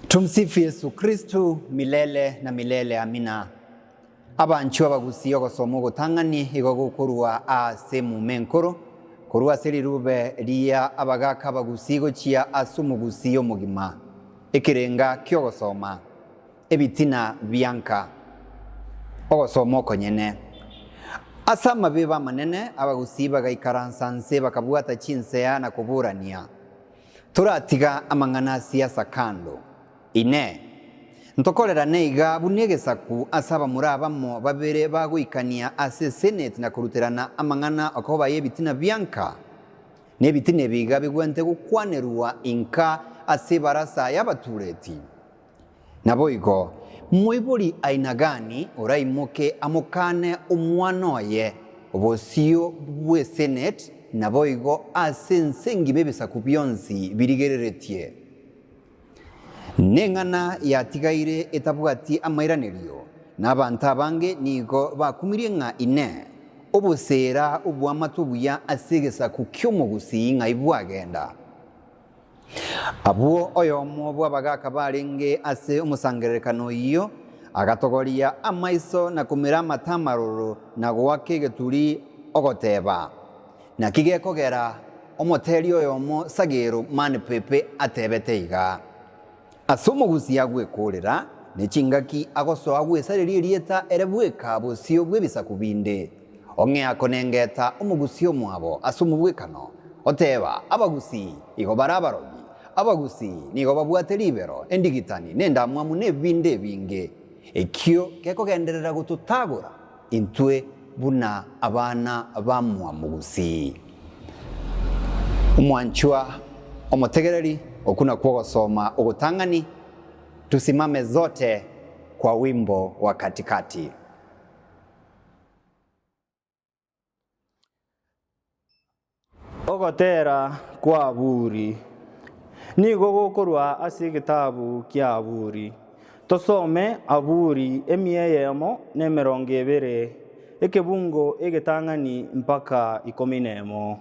Tumsifu Yesu Kristo milele na milele amina. Abanchwa abagusii ogosoma ogotang'ani igo gokorwa ase emuma enkoro, korwa ase rirube ria abagaaka abagusii gochia ase omogusii omogima. Ekerenga ki'ogosoma. Ebitina bia nka. Ogosoma okonyene. Ase amabibo amanene, abagusii bagaikaransa nse bakabwata chinsea na koburania. Toratiga amang'ana a siasa kando. Inee! Ntokorerane iga buna egesaku ase abamura abamo babere bagoikania ase eseneti na koruterana amang'ana okobaya ebitina bianka? Nebitina ebi iga bigwente gokwanerwa inka ase ebarasa y'abatureti? Naboigo, moibori aina gani oraimoke amokane omwana oye obosio bw'esenate naboigo ase ense ngima ebisaku bionsi birigereretie? Neng'ana yatigaire etabwati amairanerio, nabanto abange nigo bakumirie ng'a Inee! Obosera obw'amato obuya ase egesaku ki'omogusii ng'ai bwagenda? Abwo oyomo bw'abagaaka barenge ase omosangererekano oyio agatogoria amaiso na komira amate amaroro na goaka egeturi ogoteeba, Naki gekogera omoteeri oyomo sagero mani pepe atebete iga? Ase omogusi agwekorera, ne chingaki agosoa gwesareria erieta ere bweka bosio bw'ebisaku binde. Ong'ea konengeta omogusi omwabo ase omobwekano, oteeba, Abagusi igo bare abarogi, abagusi nigo babwate ribero, endigitani, nendamwamu, ne bibindi ebinge. Ekio gekogenderera gototagora. Intwe buna abana bamwamogusi, omwanchwa, omotegereri, okwo nakwo ogosoma ogotang'ani, tusimame zote kwa wimbo wa katikati. Ogotera kw'Aburi. Nigo gokorwa ase egetabu kia Aburi. Tosome Aburi emiya eyemo na emerongo ebere, ekebungo egetang'ani mpaka ikomi nemo.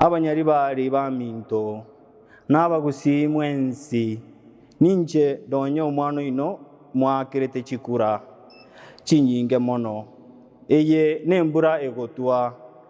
Abanyari baria baminto, nabagusii mwensi, ninche nonye omwana oino mwakerete chikura chinyinge mono. Eye nembura egotwa.